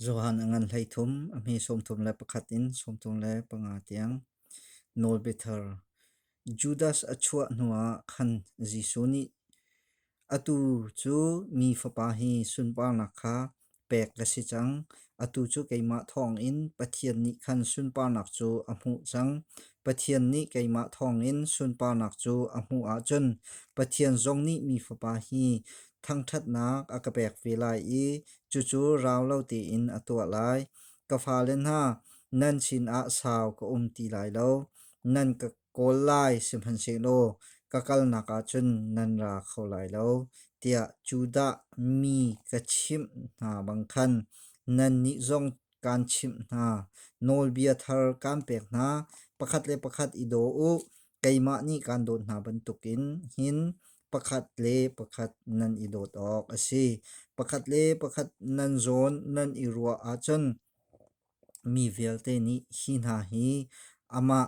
Johan a ngan hleithum, a hme sawmthum le pakhat in sawmthum le panga tiang. Nawlbiter. Judas a chuah hnuah khan Jesuh nih atu cu mi fapa hi sunparnak kha pek ka si cang. Atu cu keimah thawngin Pathian nih khan sunparnak cu a hmuh cang. Pathian nih keimah thawngin sunparnak cu a hmuh ahcun Pathian zong nih mi fapa hi thangṭhatnak a ka pek ve lai i cucu rau lo tein a tuah lai. Ka fale hna, nan sinah sau ka um ti lai lo. Nan ka kawl lai sihmanhsehlaw ka kalnak ah cun nan ra kho lai lo, tiah Judah mi ka chimh hna bang khan nannih zong kaan chimh hna. Nawlbia thar kaan pek hna, pakhat le pakhat i daw u. keimah nih kaan dawt hna bantukin hin pakhat le pakhat nan i dawt awk a si. Pakhat le pakhat nan zawn nan i ruah ahcun mi vialte nih hi hna hi amah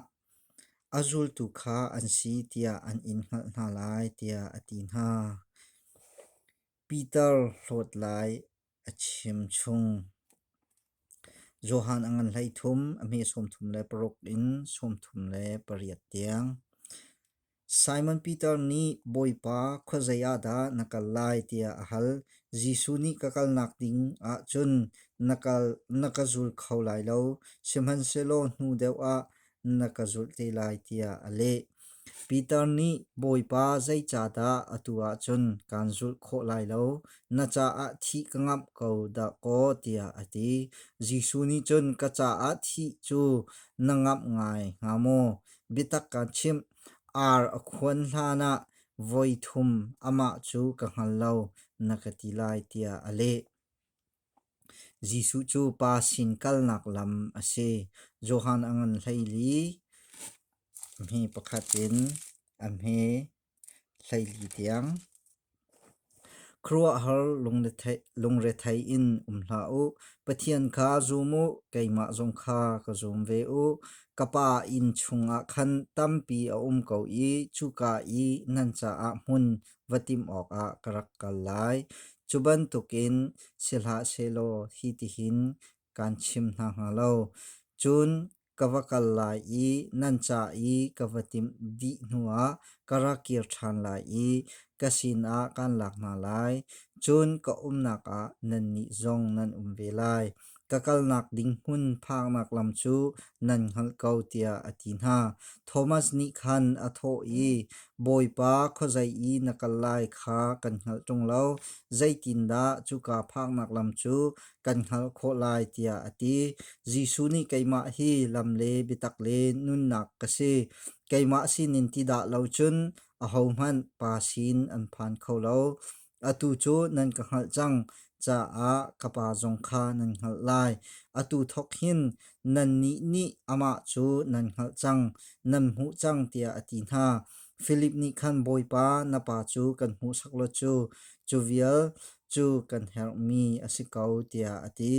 a zultu kha an si tiah an in hngalh hna lai tiah a ti hna. Peter hlawt lai Johan a ngan hleithum a hme sawmthum le paruk in sawmthum le pariat tiang. Simon Peter nih Bawipa khuazei ah dah na kal lai tiah a hal. Jesuh nih ka kalnak ding ahcun na ka zul kho lai lo. Sihmanhsehlaw hnu deuh ah na ka zulh te lai tiah a leh. Peter nih Bawipa zeicahdah atu ah cun kaan zulh khawh lai lo? Na caah thih ka ngamh ko dahkaw tiah a ti. Jesuh nih cun ka caah thih cu na ngamh ngai hnga maw? Biatak kan chimh, ar a khuan hlan ah voi thum amah cu ka hngal lo na ka ti lai tiah a leh. Jesuh cu pa sin kalnak lam a si. Johan a ngan hleili hme pakhat in a hme hleili tiang. Khuaruahhar lungrethei in um hlah u. Pathian kha zum u, keimah zong kha ka zum ve u. Ka Pa inn chungah khan tampi a um ko i cuka i nan caah hmun va timh awkah ka rak kal lai. Cu bantukin si hlah sehlaw hi tihin kaan chim hna hnga lo. Cun ka va kal lai i nan ca i ka va timh dih hnuah ka ra kir ṭhan lai i ka sinah kaan lak hna lai. Cun ka umnak ah nannih zong nan um ve lai. Ka kalnak ding hmun phaknak lam cu nan hngalh ko tiah a ti hna. Thomas nih khan a thawh i, Bawipa, khuazei i na kal lai kha kan hngalh ṭung lo, zeitindah cuka phaknak lam cu kan hngalh khawh lai tiah a ti. Jesuh nih keimah hi lam le biatak le nunnak ka si, keimah sinin ti dah lo cun ahohmanh pa sin an phan kho lo. Atu cu nan ka hngalh cang caah ka pa zong kha nan hngalh lai. Atu thawk hin nannih nih amah cu nan hngalh cang, nan hmuh cang tiah a ti hna. Filip nih khan Bawipa na pa cu kan hmuhsak law cu cu vial cu kan herhmi a si ko tiah a ti.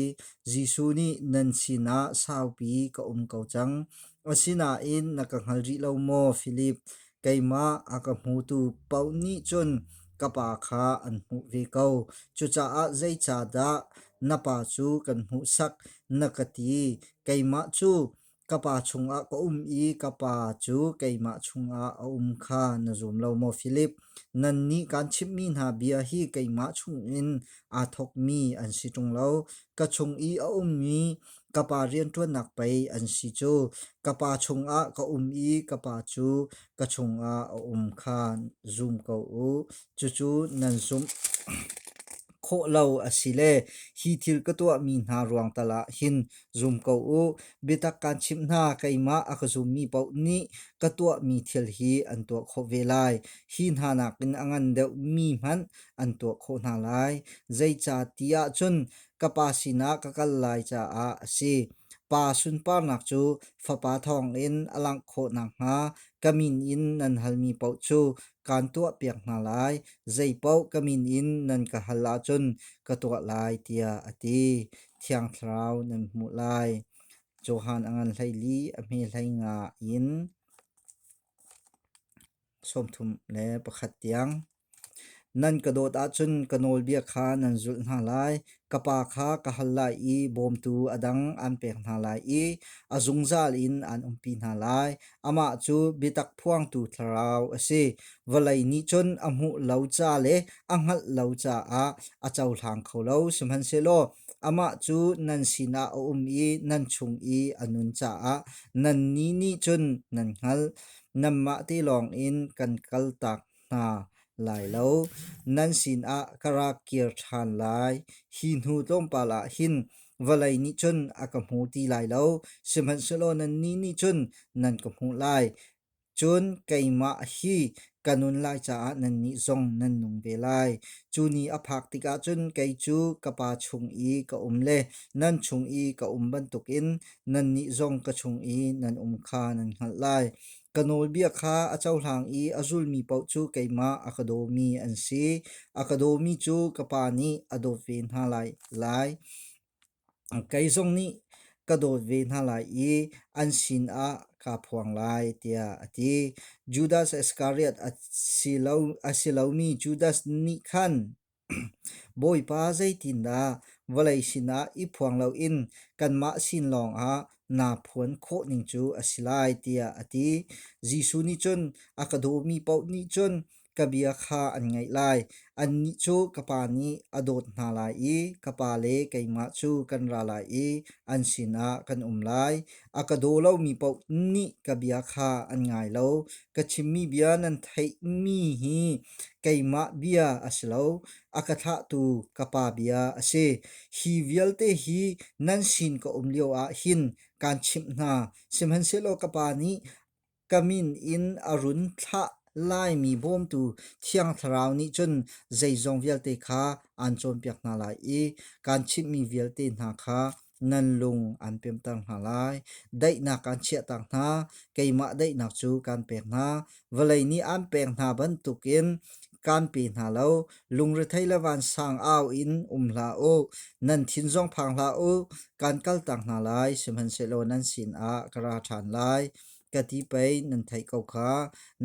Jesuh nih nan sinah saupi ka um ko cang. Asinain na ka hngal rih lo maw, Filip? Keimah a ka hmutu paoh nih cun ka pa kha an hmuh ve ko. Cucaah zeicahdah na pa cu kan hmuhsak na ka ti. Keimah cu ka pa chungah ka um i ka pa cu keimah chungah a um kha na zum lo maw Philip? Nannih kaan chimhmi hna bia hi keimah chungin aa thawkmi an si ṭung lo. Ka chung i a ummi ka pa rianṭuannak pei an si cu ka pa chungah ka um i ka pa cu ka chungah a um kha zum ko u. Cucu nan zumh khawh lo asile hi thil ka tuahmi hna ruang tal ah hin zum ko u. Biatak kaan chimh hna keimah a ka zummi paoh nih ka tuahmi thil hi an tuah khawh ve lai. Hi hna nakin a ngan deuhmi hmanh an tuah khawh hna lai. Zeicah ti ahcun ka pa sinah ka kal lai caah a si. Pa sunparnak cu fapa thawngin a langh khawh nakhnga ka min in nan halmi paoh cu kaan tuahpiak hna lai. Zei paoh ka min in nan ka hal ahcun ka tuah lai tiah a ti. Thiang Thlarau nan hmuh lai. Johan a ngan hleili a hme hlei nga in sawmthum le pakhat tiang. Nan ka dawt ahcun ka nawlbia kha nan zulh hna lai. Ka pa kha ka hal lai i bawmtu a dang an pek hna lai i a zungzal in an umpi hna lai. Amah cu biatak phuangtu thlarau a si. Vawlei nih cun a hmuh lo ca le a hngalh lo caah a cohlang kho lo. Sihmanhsehlaw amah cu nan sinah a um i nan chung i a nun caah nannih nih cun nan hngalh. Nanmah te lawng in kan kaltak hna lai lo. Nan sinah ka ra kir ṭhan lai. Hi hnu tlawmpal ah hin vawlei nih cun a ka hmu ti lai lo, sihmanhsehlaw nannih nih cun nan ka hmuh lai. Cun keimah hi ka nun lai caah nannih zong nan nung ve lai. Cu ni a phak tikah cun kei cu ka Pa chung i ka um le nan chung i ka um bantukin nannih zong ka chung i nan um kha nan hngalh lai. Ka nawlbia kha a cohlang i a zulmi paoh cu keimah a ka dawmi an si. A ka dawmi cu ka Pa nih a dawt ve hna lai. lai. Kei zong nih ka dawt ve hna lai i an sinah kaa phuang lai, tiah a ti. Judas Iskariot a si lomi Judas nih khan Bawipa zeitindah vawlei sinah i phuang loin kanmah sin lawngah naa phuan khawh ning cu a si lai tiah a ti. Jesuh nih cun a ka dawmi paoh nih cun ka bia kha an ngaih lai. Annih cu ka Pa nih a dawt hna lai i ka Pa le keimah cu kan ra lai i an sinah kan um lai. A ka daw lomi paoh nih ka bia kha an ngai lo. Ka chimmi bia nan theihmi hi Keimah bia a si lo, a ka thlahtu ka Pa bia a si. Hi vialte hi nan sin ka um lio ah hin kaan chimh hna. Sihmanhsehlaw ka Pa nih ka min in a run thlah laimi bawmtu Thiang Thlarau nih cun zeizong vialte kha aan cawnpiak hna lai i kaan chimhmi vialte hna kha nan lung aan pemter hna lai. Daihnak aan chiahter hna, keimah daihnak cu kaan pek hna. Vawlei nih aan pek hna bantukin kaan pe hna lo. Lungrethei le vansang au in um hlah u. Nan thin zong phang hlah u. Kaan kaltak hna lai, sihmanhsehlaw nan sinah ka ra ṭhan lai. ka ti pei nan theih ko kha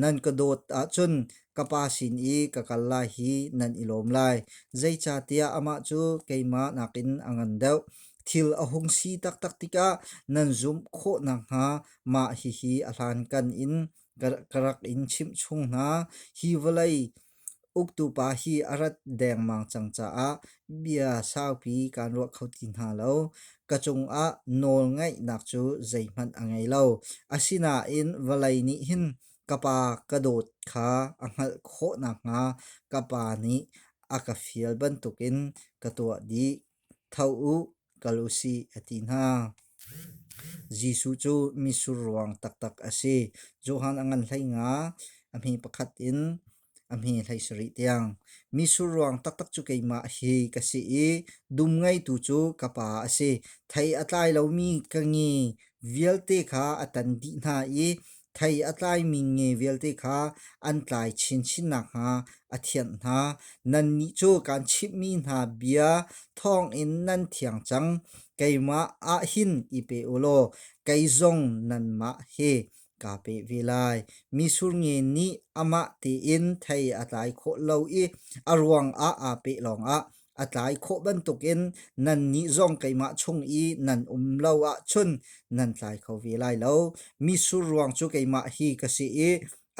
nan ka dawt ahcun ka pa sin i ka kal lai hi nan i lawm lai zeicahtiah amah cu keimah nakin a ngan deuh thil a hung si taktak tikah nan zumh khawh nakhnga mah hihi a hlankan in ka rak in chimh chung hna hi vawlei Uktu pa hi a rat dengmang cang caah bia saupi kaan ruah kho ti hna lo. Ka cungah nawlngaihnak cu zeihmanh a ngei lo. Asinain vawlei nih hin ka pa ka dawt kha a hngalh khawh nakhnga ka pa nih a ka fial bantukin ka tuah dih. Tho u. kal u sih a ti hna. Jesuh cu misur ruang taktak a si. Johan a ngan hlei nga a hmi pakhat in a hmi hlei sarih tiang. Misur ruang taktak cu keimah hi ka si i dum ngeitu cu ka pa a si. Thei a tlai lomi ka ngi vialte kha a tan dih hna i Thei a tlaimi nge vialte kha an tlai chinchin nakhnga a thianh hna. Nannih cu kaan chimhmi hna bia thawngin nan thiang cang. Keimah ah hin i pe u law kei zong nanmah hi kaa pe ve lai. Misur nge nih amah tein thei a tlai khawh lo i a ruangah aa peh lawngah a tlai khawh bantukin nan nih zong keimah chung i nan um lo ahcun nan tlai kho ve lai lo. Mi surruang cu keimah hi ka si i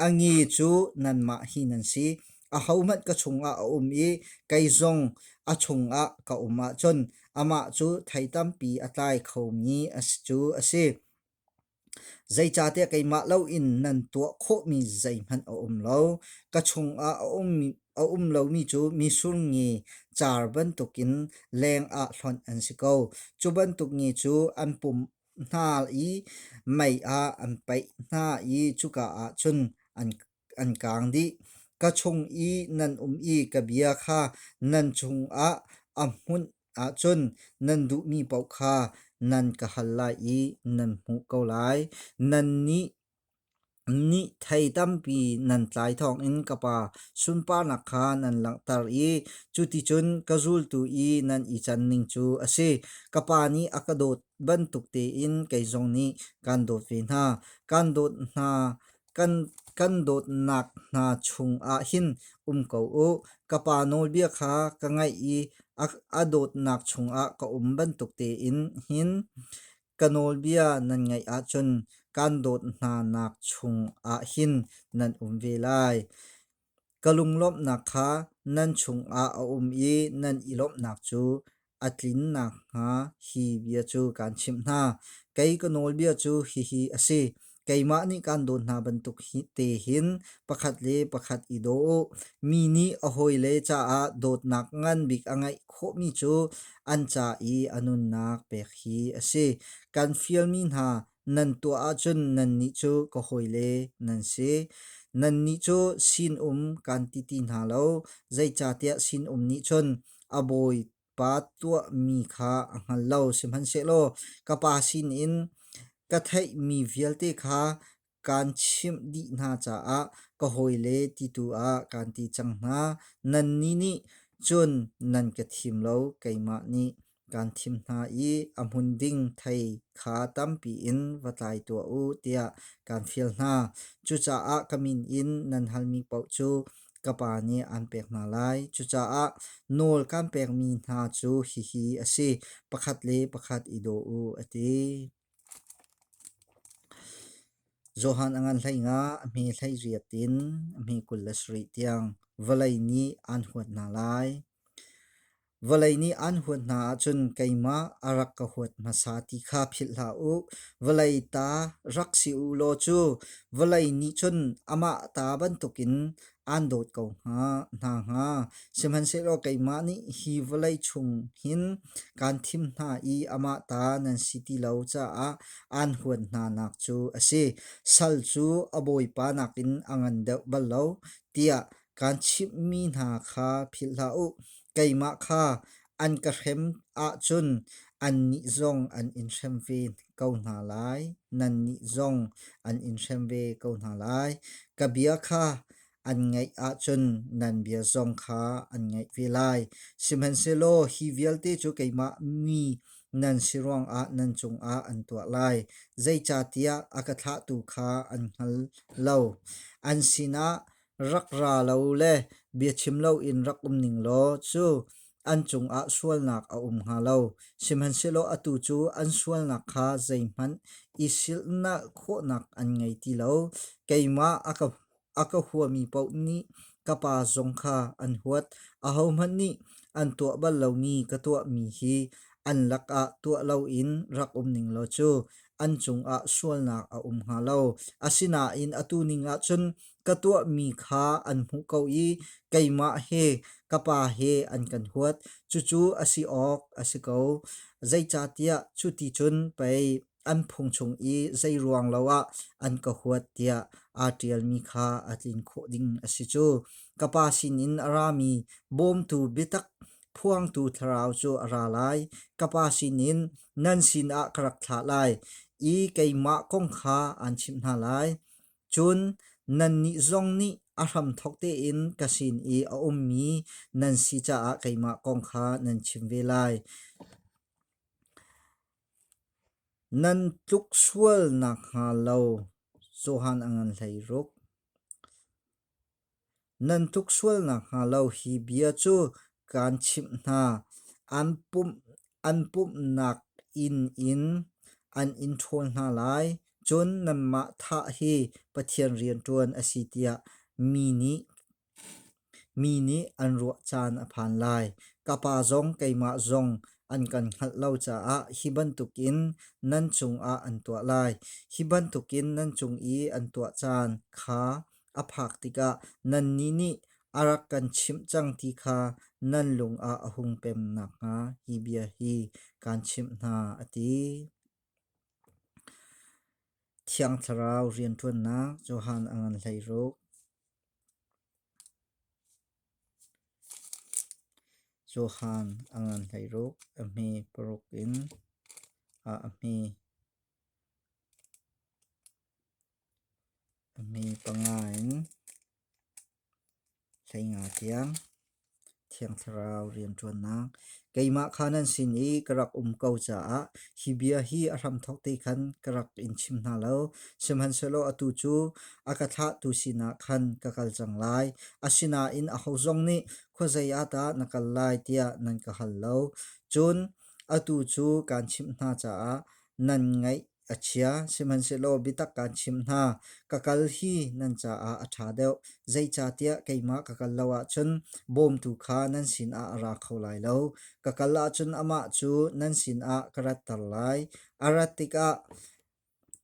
a ngi cu nanmah hi nan si. A hohmanh ka chungah a um i kei zong a chungah ka um ahcun amah cu thei tampi a tlai khomi a si cu a si. Zeicahtiah keimah loin nan tuah khawhmi zeihmanh a um lo. Ka chungah a um lomi cu misurngi car bantukin lengah hlonh an si ko. Cu bantuk ni cu an pumh hna i mei ah an paih hna i cuka ah cun an kaang dih. Ka chung i nan um i ka bia kha nan cungah a hmunh ahcun nan duhmi paoh kha nan ka hal lai i nan hmuh ko lai. Nan nih nih thei tampi nan tlai thawngin ka Pa sunparnak kha nan langhter i cuticun ka zultu i nan i canning cu a si. Ka Pa nih a ka dawt bantuk tein kei zong nih kan dawt ve hna. Kan dawt hna Kan dawtnak hna chungah hin um ko u. Ka pa nawlbia kha ka ngaih i a dawtnak chungah ka um bantuk tein hin ka nawlbia nan ngaih ahcun kan dawt hnanak chungah hin nan um ve lai. Ka lunglawmhnak kha nan chungah a um i nan i lawmhnak cu a tlin nakhnga hi bia cu kaan chimh hna. Kei ka nawlbia cu hihi a si: keimah nih kaan dawt hna bantuk te hin pakhat le pakhat i daw u. Mi nih a hawile caah dawtnak ngan bik a ngeih khawhmi cu an ca i a nunnak pek hi a si. Kan fialmi hna nan tuah ahcun nannih cu ka hawile nan si. Nannih cu sinum kan ti ti hna lo, zeicahtiah sinum nih cun a bawipa tuahmi kha a hngal lo, sihmanhsehlaw ka Pa sinin ka theihmi vialte kha kan chimh dih hna caah ka hawile ti tu ah kan ti cang hna. Nannih nih cun nan ka thim lo, keimah nih. kan thim hna i a hmun ding thei kha tampi in va tlai tuah u tiah kan fial hna. Cucaah ka min in nan halmi paoh cu ka Pa nih aan pek hna lai. Cucaah nawl kan pekmi hna cu hihi a si, pakhat le pakhat i daw u, a ti. Johan a ngan hleingah a hme hlei riat in a hme kul le sarih tiang vawlei nih aan huat hna lai. Vawlei nih aan huat hna ahcun keimah a rak ka huat hmasa ti kha philh hlah u. Vawlei ta rak si u law cu vawlei nih cun amah ta bantukin aan dawt ko hnga, hna hnga. Sihmanhsehlaw keimah nih hi vawlei chung hin kaan thim hna i amah ta nan si ti lo caah aan huan hna nak cu a si. Sal cu a bawipa nakin a ngan deuh bal lo, tiah kaan chimhmi hna kha philh hlah u. Keimah kha an ka hrem ahcun annih zong an in hrem ve ko hna lai. Nannih zong an in hrem ve ko hna lai. Ka bia kha an ngaih ahcun nan bia zong kha an ngaih ve lai. Sihmanhsehlaw hi vialte cu keimah mi nan si ruangah nan cungah an tuah lai. Zeicahtiah a ka thlahtu kha an hngal lo. An sinah rak ra lo le biachim loin rak um ning law cu an cungah sualnak a um hnga lo. Sihmanhsehlaw atu cu an sualnak kha zeihmanh i silhnak khawhnak an ngei ti lo. Keimah a ka, a ka huami paoh nih ka pa zong kha an huat. Ahohmanh nih an tuah bal lomi ka tuahmi hi an lakah tuah loin rak um ning law cu an cungah sualnak a um hnga lo. Asinain atu ning ahcun ka tuahmi kha an hmuh ko i keimah he ka Pa he an kan huat. Cucu a si awk a si ko. Zeicahtiah cuti cun pei an phung chung i zei ruang lo ah an ka huat tiah aa ṭialmi kha a tlin khawh ding a si cu. Ka Pa sinin a rami bawmtu biatak phuangtu thlarau cu a ra lai. Ka Pa sinin nan sinah ka rak thlah lai i keimah kong kha aan chimh hna lai. Cun nannih zong nih a hramthawk tein ka sin i a ummi nan si caah keimah kong kha nan chim ve lai. Nan tluk sual nakhnga lo Johan a ngan hlei ruk. Nan tuk sual nakhnga lo hi bia cu kaan chimh hna: an pumhnak inn in an in ṭhawl hna lai, cun nanmah thah hi Pathian rianṭuan a si tiah mi nih an ruah caan a phan lai. Ka Pa zong keimah zong an kan hngalh lo caah hi bantukin nan cungah an tuah lai. Hi bantukin nan cung i an tuah caan kha a phak tikah nannih nih a rak kan chimh cang ti kha nan lungah a hung pem nakhnga hi bia hi kaan chimh hna, a ti. Thiang Thlarau rianṭuannak Johan a ngan hleiruk Johan a ngan hleiruk a hme paruk in a a hme. A mi panga in hleinga tiang Thiang Thlarau rianṭuannak keimah kha nan sin i ka rak um ko caah hi bia hi a hramthawk te khan ka rak in chim hna lo. Sihmanhsehlaw atu cu a ka thlahtu sinah khan ka kal cang lai. Asinain aho zong nih khuazei ah dah na kal lai tiah nan ka hal lo. Cun atu cu kaan chimh hna caah nan ngaih A chia, sihmanhsehlaw biatak kaan chimh hna, ka kal hi nan caah a ṭha deuh, zeicahtiah keimah ka kal lo ahcun bawmtu kha nan sinah a ra kho lai lo. Ka kal ahcun amah cu nan sinah ka ratter lai. A rat tikah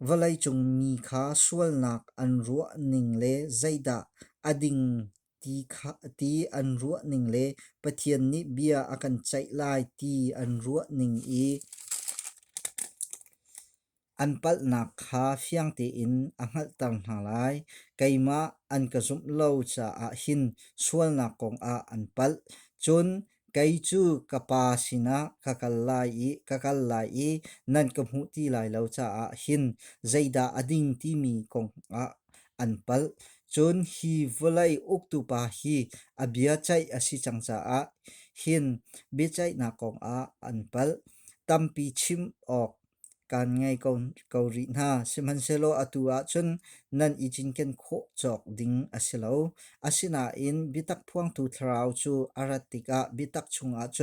vawleicung mi kha sualnak an ruah ning le zeidah a ding Ti an ruah ning le Pathian nih bia a kan ceih lai ti an ruah ning i an palhnak kha fiang tein a hngalhter hna lai. Keimah an ka zumh lo caah hin sualnak kongah an palh. Cun Kei cu ka pa sinah ka kal lai i ka kal lai i nan ka hmuh ti lai lo caah hin zeidah a ding timi kong ah an palh. Cun hi vawlei uktupa hi a bia ceih a si cang caah hin biaceihnak kong ah an palh. Tampi chim awk kaan ngei ko rih hna. Sihmanhsehlaw atu ahcun nan i cinken khawh cawk ding a si lo. Asinain biatak phuangtu thlarau cu a rat tikah biatak chungah cun